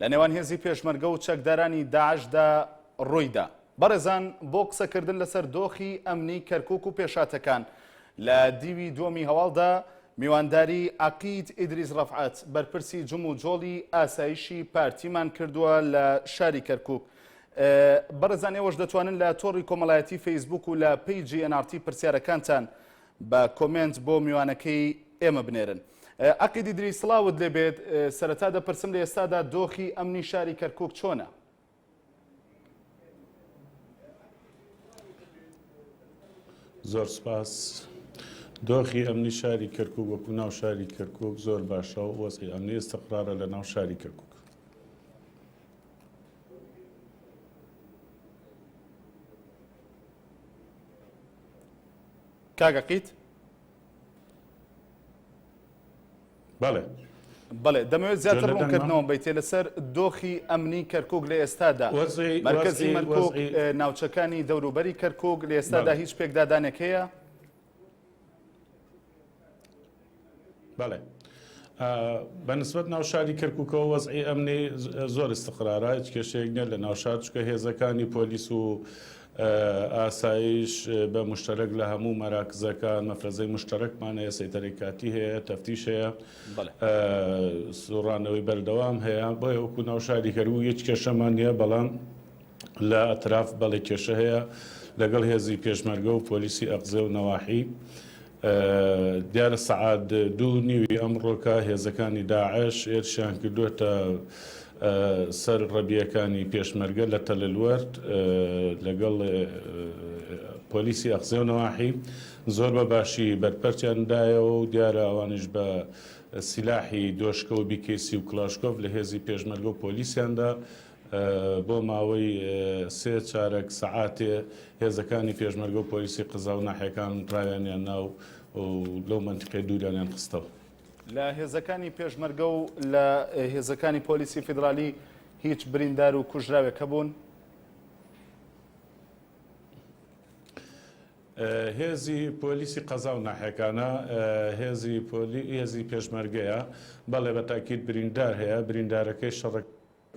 لە نێوان هێزی پێشمەرگە و چەکدارانی داعشدا روویدا. بەڕێزان بۆ قسەکردن لەسەر دۆخی ئەمنی کەرکوک و پێشهاتەکان لە دیوی دووەمی هەواڵدا میوانداری عەقید ئیدریس رەفعەت بەرپرسی جموجۆڵی ئاسایشی پارتیمان کردووە لە شاری کەرکوک بەڕێزان ئێوەش دەتوانن لە تۆڕی کۆمەڵایەتی فەیسبوک و لە پەیجی ئێن ئاڕ تی پرسیارەکانتان با کۆمێنت بۆ میوانەکەی ئێمە بنێرن. ئەقید ئیدریس سڵاوت لێ بێت، سەرەتا دەپرسم لە ئێستادا دۆخی ئەمنی شاری کەرکووک چۆنە؟ زۆر سپاس. دۆخی ئەمنی شاری کەرکووک وەکوو ناو شاری کەرکووک زۆر باشە و وەزعی ئەمنی ئیستقرارە لە ناو شاری کەرکووک. کاک عقید. بەڵێ. بەڵێ دەمەوێت زیاتر ڕوونکردنەوەم بیتێ لەسەر دۆخی ئەمنی کەرکک لە ئێستادا مەرکزی ناوچەکانی دەوروبەری کەرکک لە ئێستادا هیچ پێکدادانێک هەیە؟ بەڵێ بە نسبەت ناوشاری کەرککەوە وەزعی ئەمنی زۆر استقرارە هیچ کێشەیەک نیە لە ناوشار چکە هێزەکانی پۆلیس و ئاسایش بە مشتەرەک لە هەموو مەراکزەکان مەفرەزەی مشتەرەکمان هەیە سەیتەرەی کاتی هەیە تەفتیش هەیە سوڕانەوەی بەردەوام هەیە بۆ هەوکو ناوشاری کەرو هیچ کێشەمان نیە بەڵام لە ئەتراف بەڵێ کێشە هەیە لەگەڵ هێزی پێشمەرگە و پۆلیسی ئەقزێ و نەواحی دیارە سەعات دوو نیوی ئەمڕۆکە هێزەکانی داعش هێرشیان کردوێتە سەر ڕەبیەکانی پێشمەرگە لە تەللوەرد لەگەڵ پۆلیسی ئەخزێ و نەواحی زۆر بە باشی بەرپەرچیاندایەوە و دیارە ئەوانش بە سیلاحی دۆشکە و بیکەیسی و کلاشکۆف لە هێزی پێشمەرگە و پۆلیسیاندا بۆ ماوەی سێ چارەک سەعاتێ هێزەکانی پێشمەرگە و پۆلیسی قەزا و ناحیەکان ڕایانیان نا و لەو مەنتیقەیە دووریانیان خستەوە. لە هێزەکانی پێشمەرگە و لە هێزەکانی پۆلیسی فیدرالی هیچ بریندار و کوژراوێک هەبوون؟ هێزی پۆلیسی قەزا و ناحیەکانە هێزی پێشمەرگەیە، بەڵێ بە تاکید بریندار هەیە، بریندارەکەی شەڕە.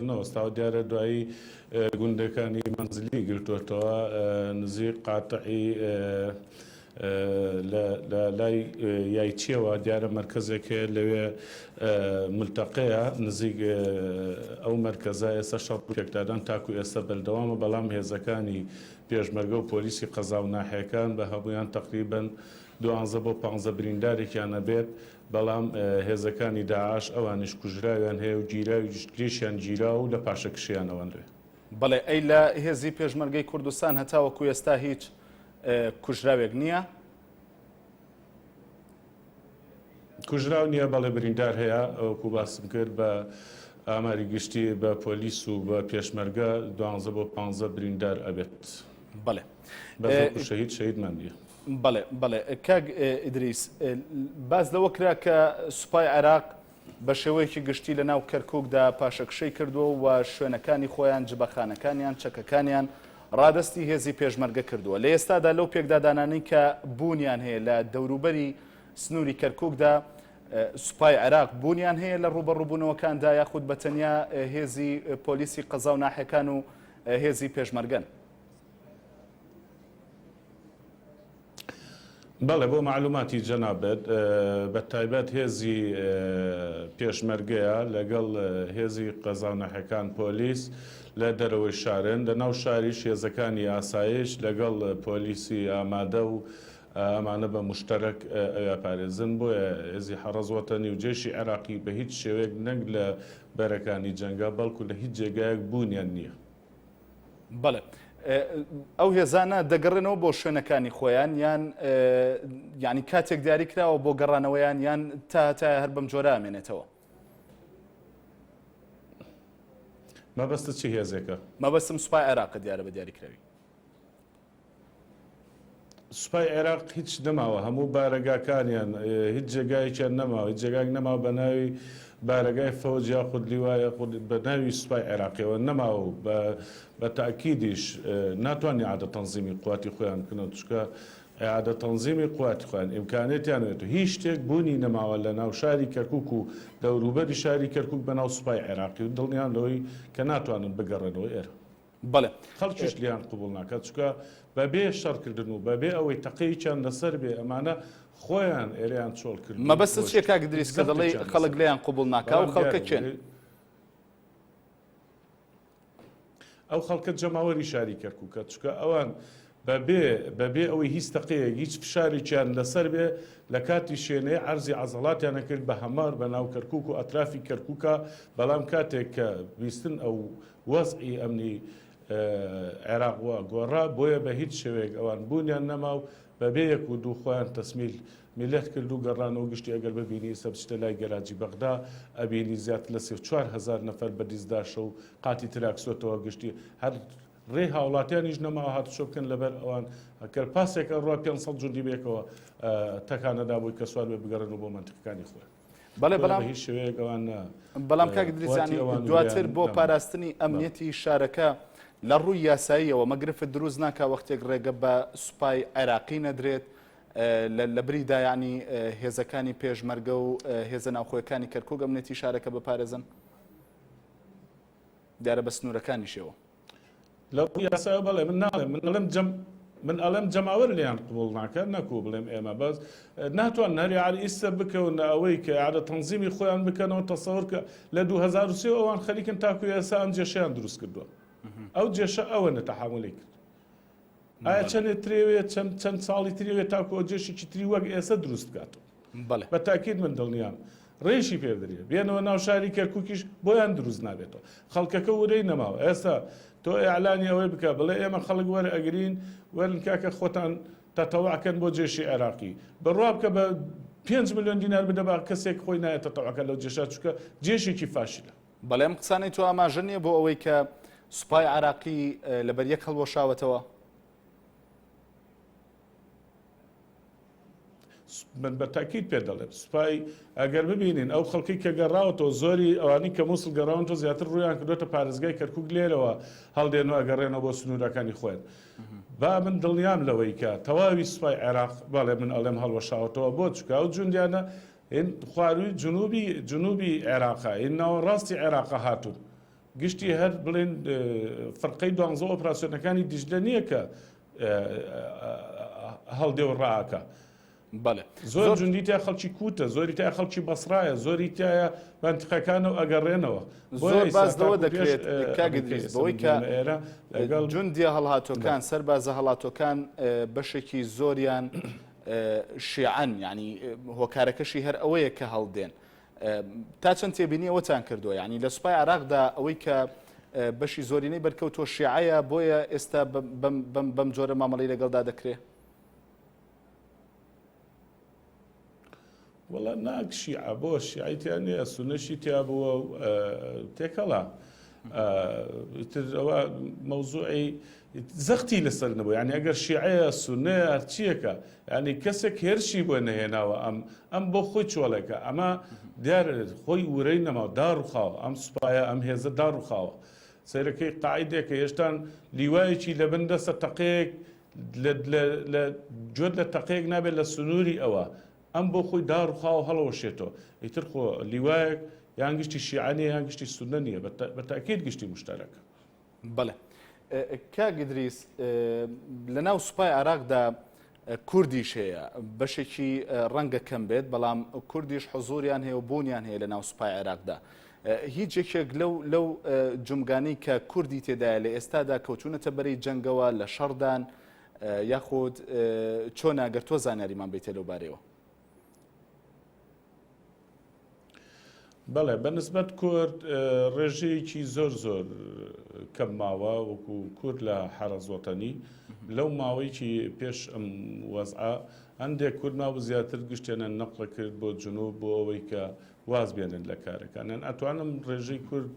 نەوەستاوە، دیارە دوایی گوندەکانی مەنزلیی گرتووەتەوە، نزیک قاتعی لە لای یایچییەوە، دیارە مەرکەزێک هەیە لەوێ ملتەقەیە، نزیک ئەو مەرکەزە ئێستا شەڕ و پێکدادان تاکو ئێستا بەردەوامە، بەڵام هێزەکانی پێشمەرگە و پۆلیسی قەزا و ناحیەکان بە هەموویان تەقریبەن دوانزە بۆ پانزە بریندارێکیان ئەبێت، بەڵام هێزەکانی داعش ئەوانیش کوژراویان هەیە و گیراویشیان گیراوە و لە پاشەکشێیان ئەوەنرێ. بەڵێ ئەی لە هێزی پێشمەرگەی کوردستان هەتاوەکو ئێستا هیچ کوژراوێک نییە؟ کوژراو نییە بەڵێ بریندار هەیە ئەوەکو باسم کرد بە ئاماری گشتی بە پۆلیس و بە پێشمەرگە دوانزە بۆ پانزە بریندار ئەبێت. بەڵێ. بەزۆر شەهید شەهیدمان بیە. بەڵێ بەڵێ کاک ئیدریس باس لەوە کرا کە سوپای عێراق بە شێوەیەکی گشتی لە ناو کەرکووکدا پاشەکشەی کردووە و شوێنەکانی خۆیان جبەخانەکانیان چەکەکانیان ڕادستی هێزی پێشمەرگە کردووە لە ئێستادا لەو پێکدادانانی کە بوونیان هەیە لە دەوروبەری سنووری کەرکووکدا سوپای عێراق بوونیان هەیە لە ڕوبەڕوبوونەوەکاندا یاخود بە تەنیا هێزی پۆلیسی قەزا و ناحەکان و هێزی پێشمەرگەن. بەڵێ بۆ مەعلوماتی جەنابت بە تایبەت هێزی پێشمەرگەیە لەگەڵ هێزی قەزاونەحەکان پۆلیس لە دەرەوەی شارن لە ناو شاریش هێزەکانی ئاسایش لەگەڵ پۆلیسی ئامادە و ئەمانە بە مشتەرەک ئەویا پارێزن بۆیە هێزی حەڕەز وەتەنی و جێشی عێراقی بە هیچ شێوەیەک نەک لە بەرەکانی جەنگا بەڵکو لە هیچ جێگایەک بوونیان نییە. بەڵێ ئەو هێزانە دەگەڕێنەوە بۆ شوێنەکانی خۆیان یان یعنی کاتێک دیاری کراوە بۆ گەڕانەوەیان یان تا تا هەر بەم جۆرە ئامێنێتەوە مەبەستە چی هێزێکە مەبەستم سوپای عێراق دیارە بە دیاریکراوی سوپای عێراق هیچ نەماوە هەموو بارەگاکانیان هیچ جێگایەکیان نەماوە هیچ جێگایەک نەماوە بە ناوی بارەگای فەوج یاخود لیوا یاخود بە ناوی سوپای عێراقیەوە نەماوە و بە بە تاکیدیش ناتوان عادە تەنزیمی قواتی خۆیان بکنەوە چکە عادە تەنزیمی قواتی خۆیان ئیمکانێتیان وێت و هیچ شتێک بوونی نەماوە لە ناو شاری کەرکک و دەوروبەری شاری کەرکک بە ناو سوپای عێراقی و دڵنیان لەوەی کە ناتوانن بگەڕێنەوە ئێرە بەڵێ خەڵکیش لێیان قبوڵ ناکات چونکە بەبێ شەڕکردن و بەبێ ئەوەی تەقەیەکیان لەسەر بێ ئەمانە خۆیان ئێرەیان چۆڵ کردووە. مەبەستت چییە کاک ئیدریس کە دەڵێی خەڵک لێیان قبوڵ ناکات؟ ئەو خەڵکە کێن؟ ئەو خەڵکە جەماوەری شاری کەرکووکە چونکە ئەوان بەبێ بەبێ ئەوەی هیچ تەقەیەک، هیچ فشارێکیان لەسەر بێ، لەکاتی شێنەیە عەرزی عەزەڵاتیان ئەکرد بە هەمار بە ناو کەرکوک و ئەترافی کەرکوکا، بەڵام کاتێک کە بیستن ئەو وەزعی ئەمنی عێراق وا گۆڕا، بۆیە بە هیچ شێوەیەک ئەوان بوونیان نەما و بەبێ یەک و دوو خۆیان تەسمیل میللەت کرد و گەڕانەوە گشتی ئەگەر ببینی ئیستا بچیتە لای گەراجی بەغدا ئەبینی زیاتر لە سێ و چوار هەزار نەفەر بە دیزداشە و قاتی تراکسۆتەوە گشتی هەر ڕێی هاوڵاتیانیش نەماوە هاتوچۆ بکەن لەبەر ئەوان ئەکەر پاسێک ئەڕوا پێنج سەد جوندی بەیەکەوە تەکانە دابووی کە سوار بێ بگەڕێن و بۆ مەنتکەکانی خۆیان. بەڵێ بەڵام هیچ شوێنێک ئەوان نا. بەڵام کاک دریزانی دواتر بۆ پاراستنی ئەمنیەتی شارەکە لە ڕووی یاساییەوە مەگرفت دروست ناکا وەختێک ڕێگە بە سوپای عێراقی نەدرێت لە بریدا یعنی هێزەکانی پێشمەرگە و هێزە ناوخۆیەکانی کەرکوک ئەمنێتی شارەکە بپارێزن؟ دیارە بە سنوورەکانیشەوە. لە ڕووی یاسایەوە بەڵێ، من ناڵێم، من ئەڵێم جەم، من ئەڵێم جەماوەر لێیان قبووڵ ناکات، نەکوو بڵێم ئێمە، بەس ناتوانن هەر یەعر ئیستە بکەونە ئەوەی کە یەعر تەنزیمی خۆیان بکەنەوە، تەسەوەر کە لە دوو هەزار و سێ ئەوان خەریکن تاکوو ئێسا ئەم جێشەیان دروست کردووە. ئەو جێشە ئەوەنە تەحەموولی کرد. ئایا چەندێ ترێوێ چەند چەند ساڵی ترێوێ تاکۆ جێشێکی تری وەک ئێستا دروست بکات بە تاکیت من دڵنیام ڕێشی پێدرێ بێنەوە ناو شاری کەرکوکیش بۆیان دروست نابێتەوە خەڵکەکە ورەی نەماوە ئێستا تۆ ئەعلانی ئەوەی بکە بڵێ ئێمە خەڵک وەرە ئەگرین وەرن کاکە خۆتان تەتەوەکەن بۆ جێشی عێراقی بڕوا بکە بە 5 میلیۆن دینار بدە بە کەسێک خۆی نایە تەتەوەکە لەو جێشا چووکە جێشێکی فاشلە بەڵێ ئەم قسانەی تۆ ئاماژە نییە بۆ ئەوەی کە سوپای عراقی لەبەر یەک هەڵوەشاوەتەوە؟ من بە تاکیت پێ دەڵێم سوپای ئەگەر ببینین ئەو خەڵکی کە گەڕاوەتەوە زۆری ئەوانی کە مووسڵ گەڕاون تۆ زیاتر ڕویان کردوێتە پارێزگای کەرکک لێرەوە هەڵدێن و ئەگەڕێنەوە بۆ سنوورەکانی خۆیان با من دڵنیام لەوەی کە تەواوی سوپای عێراق بەڵێ من ئەڵێم هەڵوەشاوەتەوە بۆ چکاو جوندیانە هین خواروی جنوبی جنوبی عێراقە هین ناوەڕاستی عێراقە هاتوون گشتی هەر بڵێن فرقەی دوانزە ئۆپراسیۆنەکانی دیجلە نییە کە هەڵدێ و ڕاکە بەڵێ زۆر جوندی تا خەڵکی کوتە زۆری تا خەڵکی بەسرایە زۆری تایە بەنتقەکانە و ئەگەڕێنەوە زۆر بازەوە دەکرێت کاگەدریزەوەی کە ئێرە لەگەڵ جوندیە هەڵهاتۆکان سەر بازە هەڵاتۆکان بەشێکی زۆریان شیعەن یانی هۆکارەکەشی هەر ئەوەیە کە هەڵدێن تا چەند تێبینی ئەوەتان کردووە یعنی لە سوپای عراقدا ئەوەی کە بەشی زۆرینەی بەرکەوتۆ شیعەیە بۆیە ئێستا بەم جۆرە مامەڵی لەگەڵدا دەکرێ وەڵا ناک شیعە بۆ شیعەی تیا نیە سونەشی تیا بووە و تێکەڵە ئیتر ئەوە مەوزوعی زەختی لەسەر نەبوو یعنی ئەگەر شیعەیە سونەیە هەرچیەکە ینی کەسێک هێرشی بۆ نەهێناوە ئەم ئەم بۆ خۆی چۆڵێکە ئەمە دیار خۆی ورەی نەما داڕوخاوە ئەم سوپایە ئەم هێزە داڕوخاوە سەیرەکەی قاعدێکە هێشتان لیوایەکی لە بن دەسە تەقێک جۆت لە تەقێک نابێت لە سنووری ئەوە ئەم بۆ خۆی داڕوخاوە هەڵەوەشێتەوە، ئیتر خۆ لیوایەک یان گشتی شیعە نیە یان گشتی سوننە نیە، بە تەئکید گشتی موشتەرەکە. بەڵێ کاک ئیدریس، لەناو سوپای عێراقدا کوردیش هەیە، بەشێکی ڕەنگە کەم بێت، بەڵام کوردیش حزووریان هەیە و بوونیان هەیە لەناو سوپای عێراقدا. هیچ یەکێک لەو لەو جومگانەی کە کوردی تێدایە لە ئێستادا کەوتوونەتە بەرەی جەنگەوە، لە شەڕدان، یاخود چۆنە گەر تۆ زانیاریمان بەیتێ لەو بارەیەوە؟ بەڵێ بە نسبەت کورد ڕێژەیەکی زۆر زۆر کەم ماوە وەکو کورد لە حەرەزۆتەنی لەو ماوەیەکی پێش ئەم وەزعە هەندێک کورد ماوە زیاتر گشتێنە نەقڵە کرد بۆ جنوب بۆ ئەوەی کە واز بێنن لە کارەکانیان ئەتوانم ڕێژەی کورد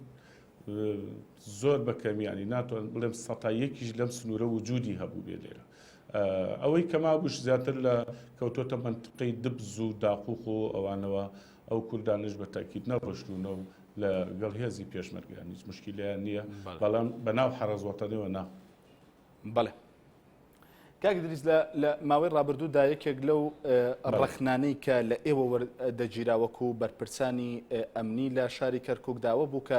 زۆر بە کەمی یانی ناتوان بڵێم سەتا یەکیش لەم سنوورە وجودی هەبوو بێ لێرە ئەوەی کە مابووش زیاتر لە کەوتۆتە منتقەی دبز و داقوق و ئەوانەوە ئەو کوردانش بە تاکیت نەڕۆشتونە و لە گەڵ هێزی پێشمەرگیان هیچ مشکلیان نییە بەڵام بەناو حەڕەزوەتەنەوە نا بەڵێ کاک دریس لە ماوەی ڕابردوودا یەکێک لەو ڕەخنانەی کە لە ئێوە دەگیراوەکو و بەرپرسانی ئەمنی لە شاری کەرککداوە بوو کە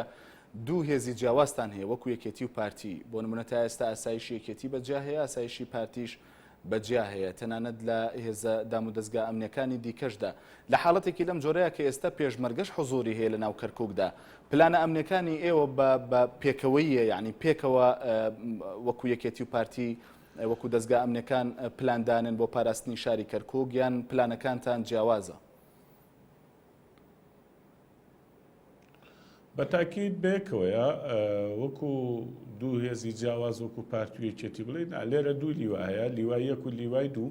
دوو هێزی جیاوازتان هەیە وەکو یەکێتی و پارتی بۆ نمونەتا ئێستا ئاسایشی یەکێتی بەجیا هەیە ئاسایشی پارتیش بە جیا هەیە، تەنانەت لە هێزە دامودەزگا ئەمنیەکانی دیکەشدا. لە حاڵەتێکی لەم جۆرەیا کە ئێستا پێشمەرگەش حزوری هەیە لە ناو کەرکوکدا، پلانە ئەمنیەکانی ئێوە بە بە پێکەوەییە یانی پێکەوە وەکو یەکێتی و پارتی وەکو دەزگا ئەمنیەکان پلان دانێن بۆ پاراستنی شاری کەرکوک یان پلانەکانتان جیاوازە؟ بە تاکید بەیەکەوەیە وەکو دوو هێزی جیاواز وەکو پارتی و یەکێتی بڵێ نا لێرە دوو لیوا هەیە لیوای یەک و لیوای دوو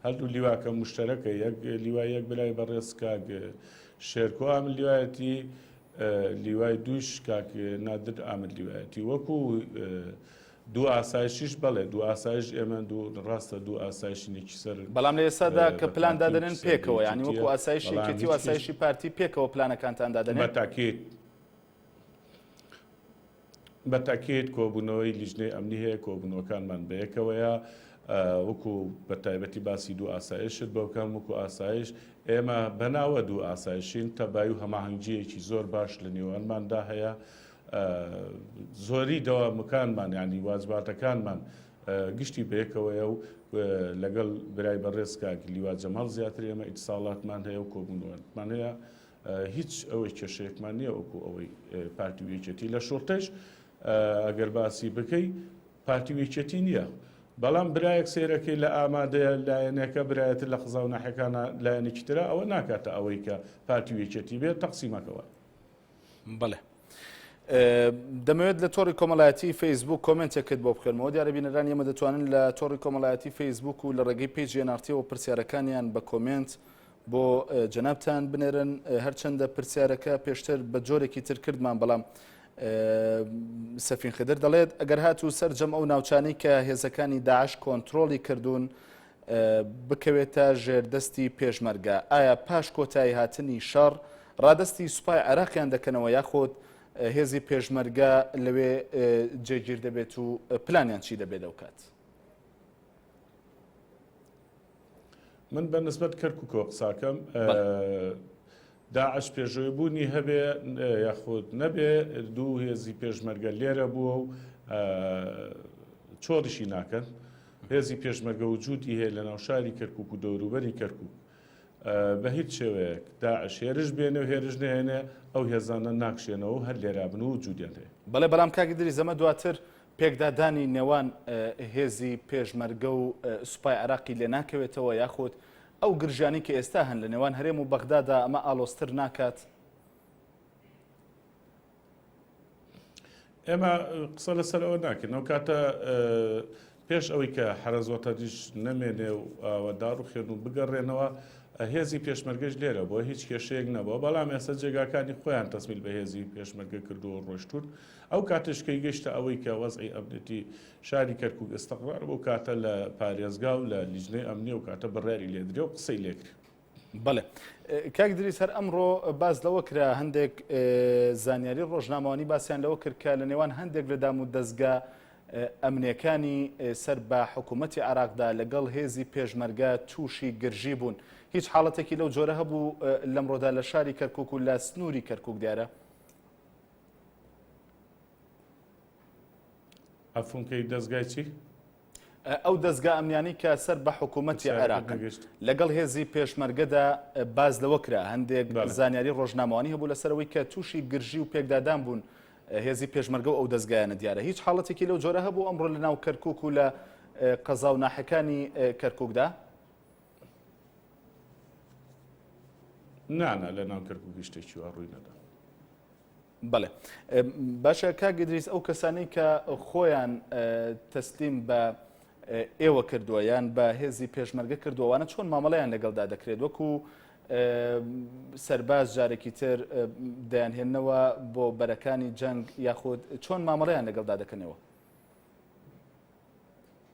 هەردوو لیواکە مشتەرەکە یەک لیوای یەک برای بەڕێز کاک شێرکۆ ئامن لیوایەتی لیوای دووش کاک نادر ئامن لیوایەتی وەکو دوو ئاسایشیش، بەڵێ دوو ئاسایش ئێمەن، دوو ڕاستە دوو ئاسایشی نێکی سەر بەڵام لە ئێستادا کە بە پلان تاکید دادەنێن سەر بە پێکەوە یانی یەکێتیە، وەکو ئاسایشی بەڵام یەکێتی و هیچ کیش ئاسایشی پارتی پێکەوە پلانەکانتان دادەنێن؟ بە تاکید بە تاکید کۆبوونەوەی لیژنەی ئەمنی هەیە، کۆبوونەوەکانمان بە یەکەوەیە ئە وەکو بە تایبەتی باسی دوو ئاسایشت بۆ بکەم وەکو ئاسایش ئێمە بە ناوە دوو ئاسایشین تەبایی و هەماهەنگییەکی زۆر باش لە نێوانماندا هەیە زۆری دەوامەکانمان یانی واجباتەکانمان گشتی بەیەکەوەیە و لەگەڵ برای بەڕێز کاک لیوا جەماڵ زیاتر ئێمە ئیتساڵاتمان هەیە و کۆبوونەوەمان هەیە هیچ ئەوەی کێشەیەکمان نییە وەکو ئەوەی پارتی و یەکێتی لە شوڕتەش ئەگەر باسی بکەی پارتی و یەکێتی نییە بەڵام برایەک سێرەکەی لە ئامادەیە لایەنەکە برایەتر لە قزا و ناحەکانە لایەنێکی ترە ئەوە ناکاتە ئەوەی کە پارتی و یەکێتی بێت تەقسیمەکەوە بەڵێ دەمەوێت لە تۆڕی کۆمەڵایەتی فەیسبوک کۆمنتێکت بۆ بکەمەوە دیارە بینەران ئێمە دەتوانن لە تۆڕی کۆمەڵایەتی فەیسبوک و لە ڕێگەی پێجیە نارتیەوە پرسیارەکانیان بە کۆمنت بۆ جەنابان بنێرن هەرچەندە پرسیارەکە پێشتر بە جۆرێکی تر کردمان بەڵام سەفین خدر دەڵێت ئەگەر هاتوو سەررجەم ئەو ناوچانی کە هێزەکانی داعش کۆنتترۆلی کردوون بکەوێتە ژێر دەستی پێشمەرگە؟ ئایا پاش کۆتایی هاتنی شەڕ ڕادەستی سوپای عێراقیان دەکەنەوە یاخود هێزی پێشمەرگە لەوێ جێگیر دەبێت و پلانیان چی دەبێت لەو کات؟ من بە نسبەت کەرککەوە قساکەم داعش پێشووی بوونی هەبێ یاخود نەبێ دوو هێزی پێشمەرگە لێرە بووە و چۆریشی ناکەن هێزی پێشمەرگە و جووتی هەیە لە ناوشاری کەرکک و دەوروبەری کەرکک بە هیچ شێوەیەک داعش هێرش بێنێ و هێرش نێنێ ئەو هێزانە ناکشێنەوە هەر لێرا بن و جوودیان هەیە بەڵێ بەڵام کاک دری زەمە دواتر پێکدادانی نێوان هێزی پێشمەرگە و سوپای عراقی لێ ناکەوێتەوە یاخود ئەو گرژیانەی کە ئێستا هەن لە نێوان هەرێم و بەغدادا ئەمە ئالۆزتر ناکات؟ ئێمە قسە لەسەر ئەوە ناکەین ئەو کاتە پێش ئەوەی کە حرەزۆتەدیش نەمێنێ و ئەوە داڕوخێن و بگەڕێنەوە هێزی پێشمەرگەش لێرە بۆ هیچ کێشەیەک نەبووە بەڵام ئێستا جێگاکانی خۆیان تەسمیل بە هێزی پێشمەرگە کردو ڕۆشتون ئەو کاتشکەی گەشتە ئەوەی کە وەزعی ئەبنێتی شاری کەرکوک ئیستقرار بەو کاتە لە پارێزگا و لە لیجنەی ئەمنی ئەو کاتە بڕیاری لێ درێ و قسەی لێ کرێ. بەڵێ کاک دریس هەر ئەمڕۆ باس لەوە کرا هەندێک زانیاری ڕۆژنامەوانی باسییان لەوە کرد کە لە نێوان هەندێک لە دام و دەستگا ئەمنیەکانی سەر بە حکوومەتتی عراقدا لەگەڵ هێزی پێشمەرگە تووشی گرژی بوون هیچ حاڵەتێکی لەو جۆرە هەبوو لەمڕۆدا لە شاری کەرکک و لە سنووری کەرکک دیارە عفوم کەی دەزگای چی؟ ئەو دەزگا ئەمنیانەی کە سەر بە حکوومەتی عێراقن لەگەڵ هێزی پێشمەرگەدا باز لەوە کرا هەندێک زانیاری ڕۆژنامەوانی هەبوو لەسەرەوەی کە تووشی گرژی و پێکدادان بوون هێزی پێشمەرگە و ئەو دەستگایانە دیارە هیچ حاڵەتێکی لەو جۆرە هەبوو ئەمڕۆ لە ناو کەرکک و لە قەزا و ناحەکانی کەرککدا نانا لە ناو کەرکک گشتێکی وا ڕووی نەدا بەڵێ باشە کاک ئیدریس ئەو کەسانەی کە خۆیان تەسلیم بە ئێوە کردووە یان بە هێزی پێشمەرگە کردووانە چۆن مامەڵیان لەگەڵدا دەکرێت وەکو سەرباز جارێکی تر دەیانهێنەوە بۆ بەرەکانی جەنگ یاخود چۆن مامەڵیان لەگەڵدا دەکەنەوە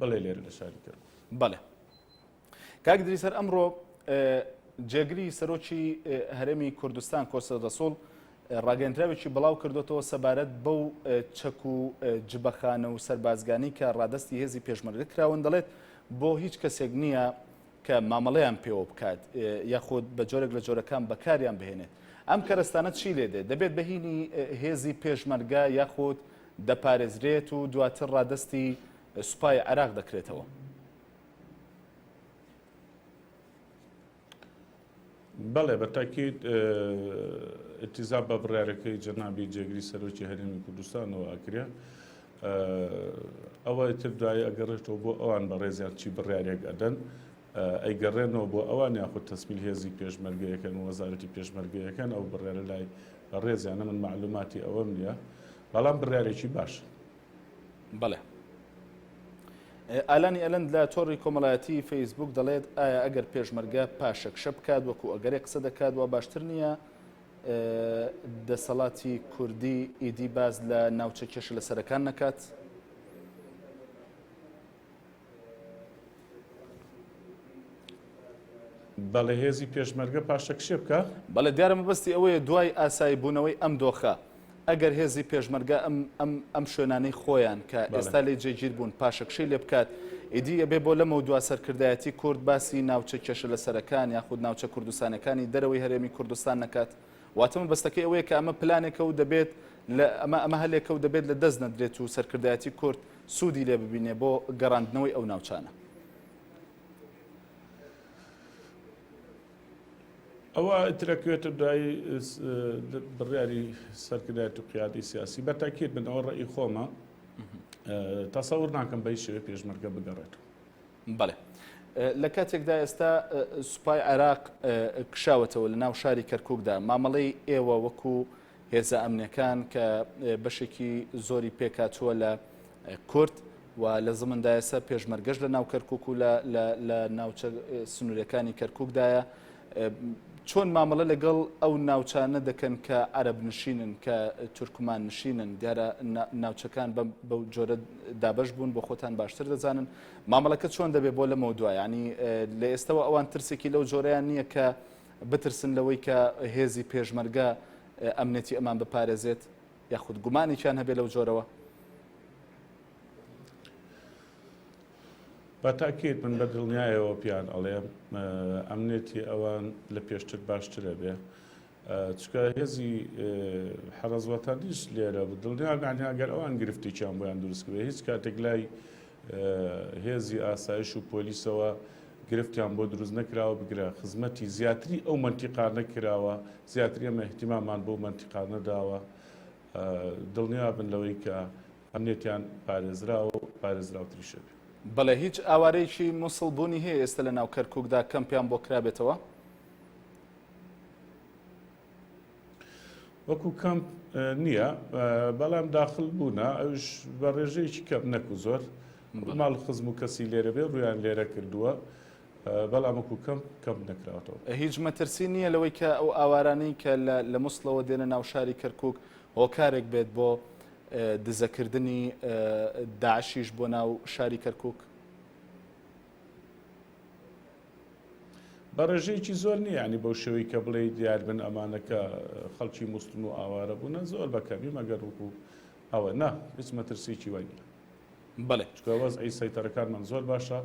بەڵێ لێرە لە شاری کەرکوک. بەڵێ کاک دریس هەر ئەمڕۆ جێگری سەرۆکی هەرێمی کوردستان کۆسە دەسۆڵ ڕاگەندراوێکی بڵاو کردوەوە سەبارەت بەو چەک و جبەخانە و سەربازگانی کە ڕادستی هێزی پێشمەرگە کراون دەڵێت بۆ هیچ کەسێک نییە کە مامەڵەیان پێوە بکات یاخود بە جۆرێک لە جۆرەکان بەکاریان بهێنێت. ئەم کەرەستانە چی لێ دێت؟ دەبێت بە هینی هێزی پێشمەرگە یاخود دەپارێزرێت و دواتر ڕادەستی سوپای عێراق دەکرێتەوە. بەڵێ بە تاکید ئیلتیزام بە بڕیارەکەی جەنابی جێگری سەرۆکی هەرێمی کوردستانەوە ئەکرێ ئەوە تر دوایی ئەگەڕێتەوە بۆ ئەوان بە ڕێزیان چی بڕیارێک ئەدەن ئەیگەڕێنەوە بۆ ئەوان یاخود تەسمیل هێزی پێشمەرگەیەکەن وەزارەتی پێشمەرگەیەکەن ئەو بڕیارە لای بە ڕێزیانە من معلوماتی ئەوەم نیە بەڵام بڕارێکی باش. بەڵێ. ئالانی ئەلەند لە تۆڕی کۆمەڵایەتی فەیسبووک دەڵێت ئایا ئەگەر پێشمەرگە پاشەکشە بکات وەکو ئەگەرێ قسە دەکات وا باشتر نییە دەسەڵاتی کوردی ئیدی باز لە ناوچە کێشە لە سەرەکان نەکات؟ بەڵێ هێزی پێشمەرگە پاشەکشێ بکا. بەڵێ دیارە مەبەستی ئەوەیە دوای ئاسایی بوونەوەی ئەم دۆخە ئەگەر هێزی پێشمەرگە ئەم ئەم ئەم شوێنانەی خۆیان کە ئێستا لێی جێگیر بوون پاشەکشەی لێ بکات ئیدی ئەبێ بۆ لەمەو دوا سەرکردایەتی کورد باسی ناوچە کێشە لەسەرەکان یاخود ناوچە کوردستانەکانی دەرەوەی هەرێمی کوردستان نەکات واتە مەبەستەکەی ئەوەیە کە ئەمە پلانێکە و دەبێت لە ئەمە ئەمە هەلێکە و دەبێت لە دەست نەدرێت و سەرکردایەتی کورد سوودی لێ ببینێ بۆ گەڕاندنەوەی ئەو ناوچانە. ئەوە ترەکوێتە دوای بڕیاری سەرکردایەت و قیادی سیاسی بە تاکیت من ئەوە ڕێی خۆمە تەسەور ناکەم بە شێوێ پێشمەرگە بگەڕێت بەڵێ لە کاتێکدا ئێستا سوپای عێراق کشاوەتەوە لە ناو شاری کەرککدا مامەڵەی ئێوە وەکوو هێزە ئەمنیەکان کە بەشێکی زۆری پێکهاتووە لە کورد و لە زمندایەسە پێشمەرگەش لە ناو کەرکک و لە ناوچە سنوورەکانی کەرککدایە چۆن مامەڵە لەگەڵ ئەو ناوچانە دەکەن کە عەرب نشینن کە تورکمان نشینن دیارە ناوچەکان بەو جۆرە دابش بوون بۆ خۆتان باشتر دەزانن مامەڵەکە چۆن دەبێت بۆ لەمە دوایانی لە ئێستەوە ئەوان ترسێکی لەو جۆرەیان نییە کە بترسن لەوەی کە هێزی پێشمەرگە ئەمنێتی ئەمان بپارێزێت یاخود گومانێکیان هەبێت لەو جۆرەوە؟ بە تاکیت من بە دڵنیایەوە پیان ئەڵێم ئەمنێتی ئەوان لە پێشتر باشترە بێ چکە هێزی حەرەزوەتانیش لێرە بە دڵنیا گەر ئەوان گرفتێکیان بۆیان دروستکرێ هیچ کاتێک لای هێزی ئاسایش و پۆلیسەوە گرفتیان بۆ دروست نەکراوە بگرە خزمەتی زیاتری ئەو مەنتیقا نەکراوە زیاتری ئەمە احتیمامان بۆ مەنتیقا نەداوە دڵنیا بن لەوەی کە ئەمنێتیان پارێزراوە و پارێزراوتریشە بێ. بەڵێ هیچ ئاوارەیەکی موسڵ بوونی هەیە ئێستە لە ناو کەرکوکدا کەمپیان بۆ کرابێتەوە؟ وەکو کەمپ نییە بەڵام داخل بوونە ئەوش بە ڕێژەیەکی کەم نەکو زۆر ماڵ خزم و کەسی لێرە بێ ڕویان لێرە کردووە بەڵام وەکو کەم کەم نەکراوەوە هیچ مەترسی نییە لەوەی کە ئەو ئاوارانەی کە لە مسلەوە دێنە ناوشاری کەرکک هۆکارێک بێت بۆ دزەکردنی داعشیش بۆ ناو شاری کەرکک بە ڕێژەیەکی زۆر نیە یانی بەو شێوەی کە بڵێی دیار بن ئەمانە کە خەڵکی موسڵن و ئاوارە بوونە زۆر بە کەمی مەگەر وەکو ئەوە نا هیچ مەترسیی وای نیە بەڵێ چکە وەز ئەی سەیتەرەکانمان زۆر باشە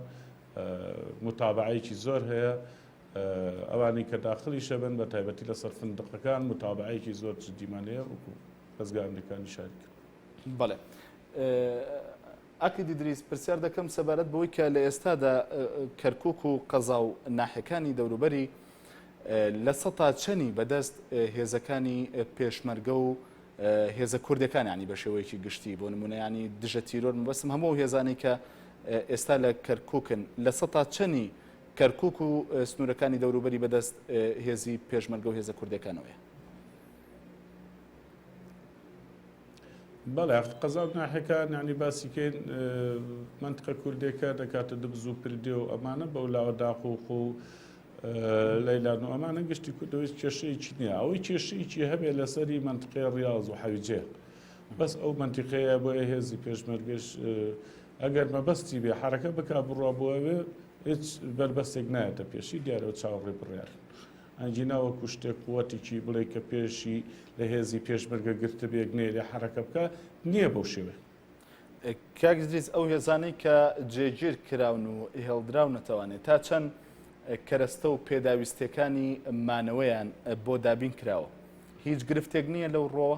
متابعەیەکی زۆر هەیە ئەوانی کە داخلی شەبن بە تایبەتی لە سەر فندقەکان متابعەیەکی زۆر جدیمانەیە وەکو خەزگە ئەمریکانی شاری کرد بەڵێ ئاکید ئیدریس، پرسیار دەکەم سەبارەت بەوەی کە لە ئێستادا کەرکوک و قەزا و ناحیەکانی دەوروبەری لە سەتا چەنی بەدەست هێزەکانی پێشمەرگە و هێزە کوردەکان یانی بە شێوەیەکی گشتی بۆ نمونە ینی دژە تیرۆر مبەسم هەموو هێزانی کە ئێستا لە کەرکوکن لە سەتا چەنی کەرکک و سنوورەکانی دەوروبەری بەدەست هێزی پێشمەرگە و هێزە کوردەکانەوەە بەڵێ ئەخ قەزا و ناحێکان یعنی باسی کەین منتقە کوردێکە دەکاتە دبز و پردێ و ئەمانە بەولاوە داخ و خۆ لەیلان و ئەمانە گشتی کوردەوەی کێشەیەکی نییە ئەوەی کێشەیەکی هەبێ لەسەری منتقێ ڕاز و حەویجێ بەس ئەو منتیقەیە بۆ هێزی پێشمەرگەش ئەگەر مەبەستی بێ حرەکە بک بڕوا بۆ ئەوێ هیچ بەربەستێک نایەتە پێشی دیارەوە چاوەڕێ بڕیار. ئەنگینا وەکو شتێک قوتێکی بڵێی کە پێشی لە هێزی پێشمەرگە گرتبێ گنێ لێ حەرەکە بکا نییە بەو شێوەیە. کاک دریس ئەو هێزانەی کە جێگیر کراون و هێڵدراونەتەوانێ تا چەند کەرەستە و پێداویستیەکانی مانەوەیان بۆ دابین کراوە هیچ گرفتێک نییە لەو ڕۆوە؟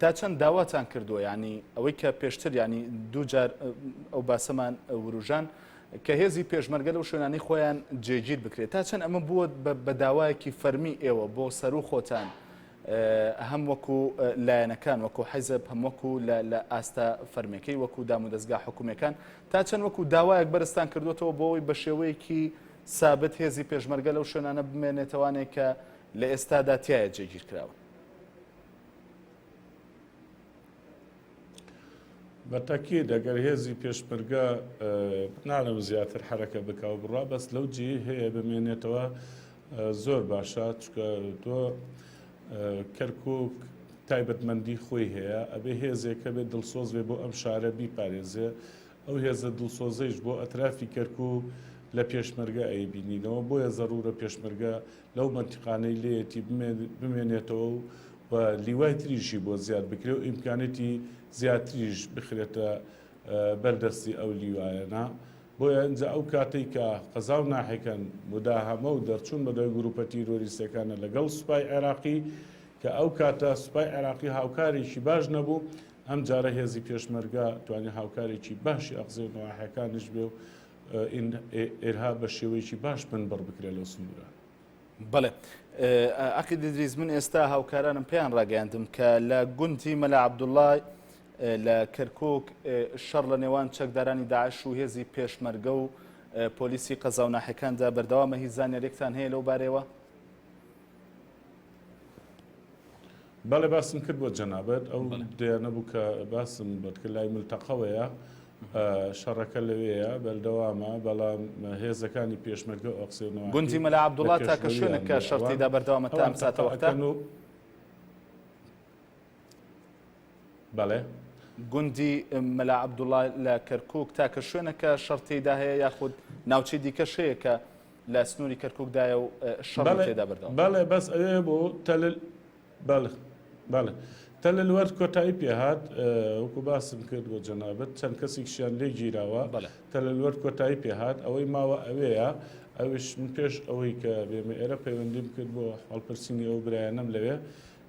تا چەند داواتان کردووە ینی ئەوەی کە پێشتر ینی دووجار ئەو باسەمان وروژان کە هێزی پێشمەرگە لەو شوێنانی خۆیان جێگیر بکرێت تا چەند ئەمە بووە بە داوایەکی فەرمی ئێوە بۆ سەر و خۆتان هەم وەکو لایەنەکان وەکو حیزب هەم وەکو لە ئاستە فەرمەکەی وەکو دام و دەستگا حکوومەکان تا چەند وەکو داوایەک بەرزستان کردوێتەوە بۆەوەی بە شێوەیەکی سابت هێزی پێشمەرگە لەو شوێنانە بمێنێتەوانێک کە لە ئێستادا تایە جێگیر کراون بە تەکید ئەگەر هێزی پێشمەرگە نالم زیاتر حرەکە بکە و بڕا بەس لەو جی هەیە بمێنێتەوە زۆر باشە چکە تۆ کەرکک تایبەتمەندی خۆی هەیە ئەبێ هێزێکە بێت دڵسۆز بێ بۆ ئەم شارە بیپارێزێ ئەو هێزە دڵسۆزەیش بۆ ئەترافی کەرکک لە پێشمەرگە ئەیبینینەوە بۆیە زەڕورە پێشمەرگە لەو مەنتیقانەی لێیەتی بمێنێتەوە و و لیوای تریشی بۆ زیاد بکرێ و ئیمکانێتی زیاتریش بخرێتە بەردەستی ئەو لیوایەنە بۆیە ئەجا ئەو کاتێک کە قەزا و ناحەکەن مداهەمە و دەرچوون بەدەوای گروپە تیرۆریستەکانە لەگەڵ سوپای عێراقی کە ئەو کاتە سوپای عێراقی هاوکارێکی باش نەبوو ئەم جارە هێزی پێشمەرگە توانی هاوکارێکی باشی ئەقزێ و ناحەکانش بێ و ئین ئێرها بە شێوەیەکی باش بنبڕ بکرێت لەو سنوورە. بەڵێ عقید دریز من ئێستا هاوکارانم پێیان ڕاگەیاندم کە لە گونتی مەلا عبدوڵای لە کەرکک شەڕ لە نێوان چەکدارانی داعش و هێزی پێشمەرگە و پۆلیسی قەزاوناحەکاندا بەردەوامە هی زانیارێکتان هەیە لەو بارەوە؟ بەڵێ باسم کرد بۆ جەنابەت ئەو دەیانە بوو کە باسم بەتکە لای ملتەقەوەیە شەڕەکە لەوەیە بەردەوامە بەڵام هێزەکانی پێشمەرگە ئۆکسێنەوە گونجی مەلا عبدوڵات تاکە شوێنە کە شەرتیدا بەردەوامە تا ساتەوەکەن و بەڵێ گوندی مەلا عبدوڵا لە کەرکک تاکە شوێنەکە شەرتیدا هەیە یاخود ناوچەی دیکە شەیەکە لە سنوری کەرکوک دایە و شەڕی بەڵێ تێدا بەردەوامە. بەڵێ بەس ئەوێ بۆ تەلل بەڵێ بەڵێ تەلل وەرد کۆتایی پێهات اه، وەکو باسم کرد بۆ جەنابت چەند کەسێکشیان لێ گیراوە بەڵێ. تەلل وەرد کۆتایی پێهات ئەوەی ماوە ئەوێیە ئەویش من پێش ئەوەی کە بێمە ئێرە پەیوەندیم کرد بۆ هەڵپرسینی ئەو برایانەم لەوێ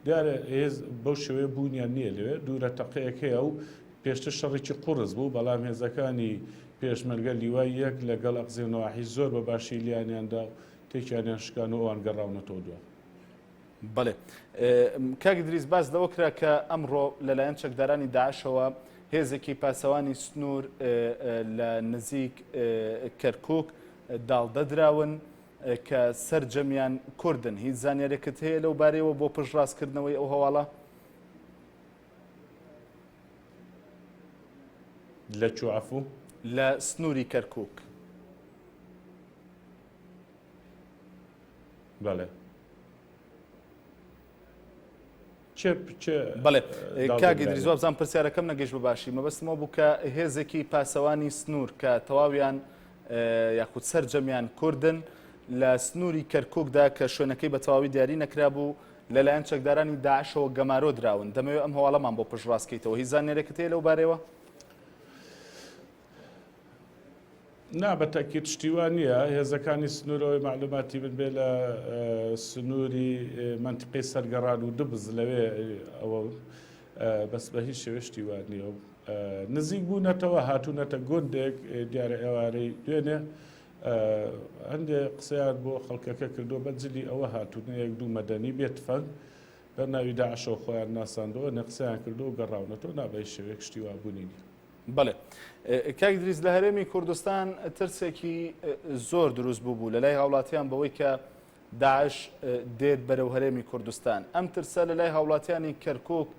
دیارە هێز بەو شێوەیە بوونیان نییە لەوێ دوورە تەقەیەک هەیە و پێشتر شەڕێکی قوڕس بوو، بەڵام هێزەکانی پێشمەرگە لیوای یەک لە گەڵ ئەقزێ و نەواحی زۆر بە باشی لیانیان دا و تێکیانیان شکان و ئەوان گەڕاونەتەوە دوا. بەڵێ. کاک ئیدریس باس لەوە کرا کە ئەمڕۆ لە لایەن چەکدارانی داعشەوە هێزێکی پاسەوانی سنوور لە نزیک کەرکووک داڵدە دراون کە سەرجەمیان کوردن. هیچ زانیارێکت هەیە لەو بارەیەوە بۆ پشتڕاستکردنەوەی ئەو هەواڵە؟ لە کوێ عەفوو؟ لە سنووری کەرکووک. بەڵێ. بەڵێ کاک ئیدریس وابزانم پرسیارەکەم نەگەیشت بەباشی مەبەستم ئەو بوو کە هێزێکی پاسەوانی سنوور کە تەواویان یاخود سەرجەمیان کوردن لە سنووری کەرکووکدا کە شوێنەکەی بە تەواوی دیاری نەکرابوو لەلایەن چەکدارانی داعشەوە گەمارۆ دراون دەمەوێت ئەم هەواڵەمان بۆ پشڕاستکەیتەوە هی زانێرێکت هەیە لەو بارەوە؟ نا بە تاکیت شتیوان نییە هێزەکانی سنوورەوەی معلوماتی من بێ لە سنووری منتیقی سەرگەڕان و دبز لەوێ ئەوە بەس بە هیچ شێوێ شتیوان نییە و نزیک بوونەتەوە هاتوونەتە گوندێک دیارە ئێوارەی دوێنێ هەندێ قسەیان بۆ خەڵکەکە کردووە بە جلی ئەوە هاتوون یەک دوو مەدەنی بێ تفەنگ بە ناوی داعشەوە خۆیان ناساندەوە نە قسەیان کردو و گەڕاونە تۆ نا بەهیچ شێوەیەک شتی وا بوونی نیە. بەڵێ کاک دریس لە هەرێمی کوردستان ترسێکی زۆر دروست بوو بوو لەلای هاوڵاتیان بەوەی کە داعش دێت بەرەو هەرێمی کوردستان ئەم ترسە لەلای هاوڵاتیانی کەرکک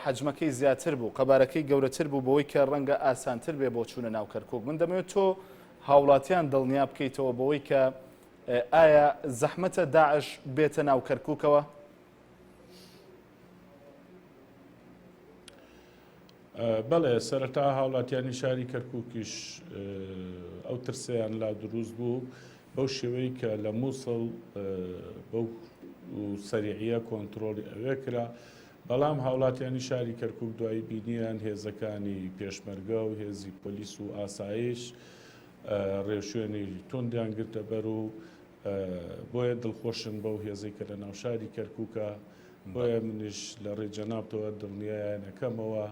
حەجمەکەی زیاتر بوو قەبارەکەی گەورەتر بوو بەوەی کە ڕەنگە ئاسانتر بێ بۆ چوونە ناو کەرکوک من دەمەوێت تۆ هاوڵاتیان دڵنیا بکەیتەوە بەوەی کە ئایا زەحمەتە داعش بێتە ناو کەرکوکەوە بەڵێ سەرەتا هاوڵاتیانی شاری کەرکووکیش ئەو ترسیان لا دروست بوو بەو شێوەی کە لە مووسڵ بەو سەریعە کۆنتترۆلی ئەوێ کرا بەڵام هاوڵاتیانی شاری کەرکوک دوای بینیان هێزەکانی پێشمەرگە و هێزی پۆلیس و ئاسایش ڕێوشوێنی توندیان گرتە بەر و بۆیە دڵخۆشن بەو هێزەی کە لە ناو شاری کەرکوکە بۆیە منیش لە ڕێ جەنابتەوە دڵنیایانەکەمەوە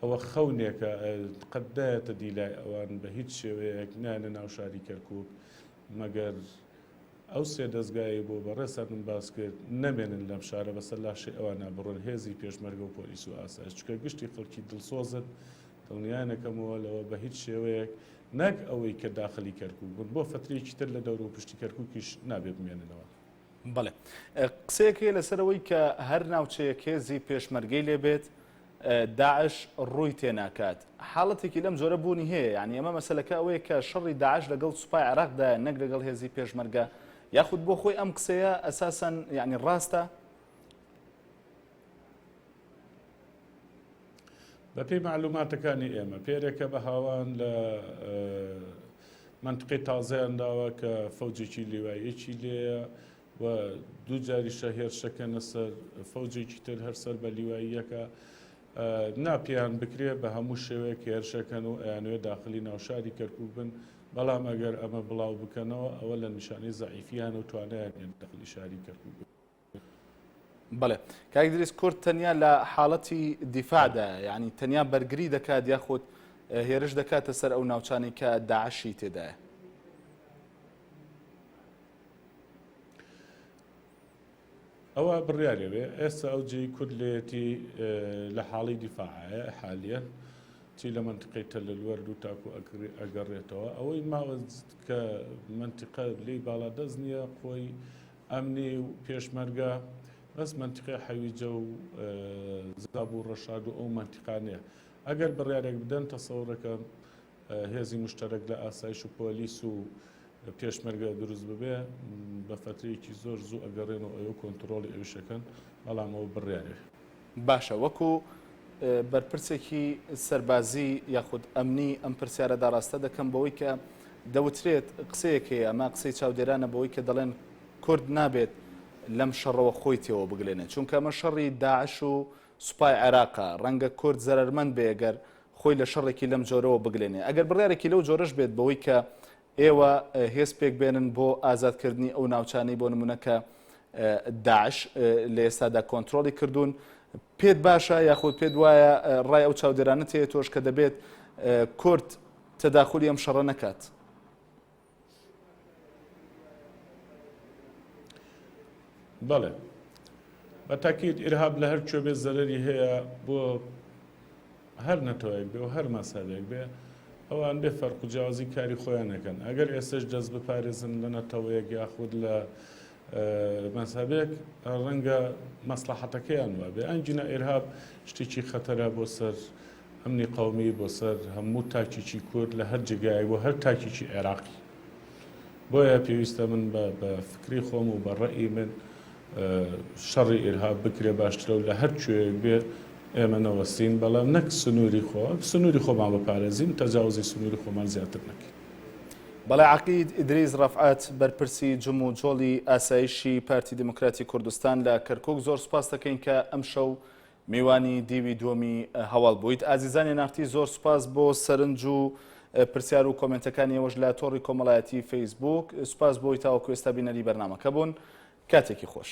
ئەوە خەونێکە قەت دایەتە دیلای ئەوان بە هیچ شێوەیەک نانە ناو شاری کەرکک مەگەر ئەو سێ دەزگایەی بۆ بەڕێز سەرمن باس کرد نەمێنن لەم شارە بەسەر لاشەی ئەوانا بڕۆن هێزی پێشمەرگە و پۆلیس و ئاسایش چونکە گشتی خەڵکی دڵسۆزن دڵنیایان ئەکەمەوە لەوە بەهیچ شێوەیەک نەک ئەوەی کە داخلی کەرکوک بن بۆ فەترەیەکی تر لە دەورو پشتی کەرکوکیش نابێ بمێننەوە. بەڵێ قسەیەک هەیە لەسەر ئەوەی کە هەر ناوچەیەک هێزی پێشمەرگەی لێبێت داعش ڕووی تێناکات حاڵەتێکی لەم جۆرە بوونی هەیە یانی ئەمە مەسەلەکە ئەوەیە کە شەڕی داعش لەگەڵ سوپای عێراقدایە نەک لەگەڵ هێزی پێشمەرگە یاخود بۆ خۆی ئەم قسەیە ئەساسەن یعنی ڕاستە بەپی معلوماتەکانی ئێمە پێرێکە بە هاوان لە منطقی تازەیان داوە کە فەوجێکی لیوایەکی لێە و دوو جاریشە هێرشەکەنە سەر فەوجێکی تر هەر سەر بە لیواییەکە نا پێیان بکرێ بە هەموو شێوەیەک هێرشەکەن و ئەیانوێ داخلی ناوشاری کەرکک بن بەڵام ئەگەر ئەمە بڵاو بکەنەوە ئەوە لە نیشانەی زعیفیان و توانیان داخلی شاری کەرکک بن. بڵێ کاکدریس کورد تەنیا لە حاڵەتی دیفاعدا ینی تەنیا بەرگری دەکات یاخود هێرش دەکاتە سەر ئەو ناوچانی کە داعشی تێدایە ئەوە بڕیارێ بێ ئێستا ئەو جێی کورد لێتی لە حاڵی دیفاعە حالیە چی لە منتقی تەلەلوەر دوو تاکو ئەکری ئەگەڕێتەوە ئەوەی ماوەز کە منتیقە لی باڵا دەست نییە خۆی ئەمنی و پێشمەرگە بەس منتیقی حەویجە و زاب و ڕەشاد و ئەو منتیقانەیە ئەگەر بڕارێک بدەن تەسەورەکە هێزی مشتەرەک لە ئاسایش و پۆلیس و پێشمەرگە دروست ببێ بە فەترەیەکی زۆر زوو ئەگەڕێن و ئەوێ کۆنتڕۆڵی ئەویش ئەکەن بەڵام ئەوە بڕیارێ. باشە وەکو بەرپرسێکی سەربازی یاخود ئەمنی ئەم پرسیارە داڕاستە دەکەم بەوەی کە دەوترێت قسەیەک هەیە ئەمە قسەی چاودێرانە بەوەی کە دەڵێن کورد نابێت لەم شەڕەوە خۆی تێوە بگلێنێت چونکە ئەمە شەڕی داعش و سوپای عێراقە ڕەنگە کورد زەرەرمەند بێ گەر خۆی لە شەڕێکی لەم جۆرەوە بگلێنێ. ئەگەر بڕیارێکی لەو جۆرەش بێت بەوەی کە ئێوە هێز پێک بێنن بۆ ئازاد کردنی ئەو ناوچانەی بۆ نموونە کە داعش لە ئێستادا کۆنترۆڵی کردوون، پێت باشە یاخود پێت وایە ڕای ئەو چاودێرانەت هەیە تۆش کە دەبێت کورد تەداخولی ئەم شەڕە نەکات؟ بەڵێ بە تاکیت ئیرهاب لە هەر کوێ بێ زەرری هەیە بۆ هەر نەتەوەیەک بێ و هەر مەسەبێک بێ ئەوان بێ فەرق و جیازی کاری خۆیان نەکەن ئەگەر ئێستش دەست بپارێزن لە نەتەوەیەک یاخود لە مەزهەبێک ڕەنگە مەسلەحەتەکەیان وابێ ئەم جنە ئێرهاب شتێکی خەتەرە بۆ سەر ئەمنی قومی بۆ سەر هەموو تاکیی کورد لە هەر جێگای بۆ هەر تاکیی عێراقی بۆیە پێویستە من بە فکری خۆم و بە ڕێی من شەڕی ئێرهاب بکرێ باشترە و لە هەر کوێیەک بێ ئێمە نەوەستین بەڵام نەک سنووری خۆ سنووری خۆمان بەپارێزین تەجاوزی سنووری خۆمان زیاتر نەکەین بەڵێ عەقید ئیدریس ڕەفعەت بەرپرسی جم و جۆڵی ئاسایشی پارتی دیموکراتی کوردستان لە کەرکوک زۆر سوپاس دەکەین کە ئەمشەو میوانی دیوی دووەمی هەواڵ بوویت ئازیزانی نارتی زۆر سوپاس بۆ سەرنج و پرسیار و کۆمنتەکانی ئێوەش لە تۆڕی کۆمەڵایەتی فەیسبوک سوپاس بۆی تاوەکو ئێستا بینەری بەرنمەکە بوون کاتێکی خۆش.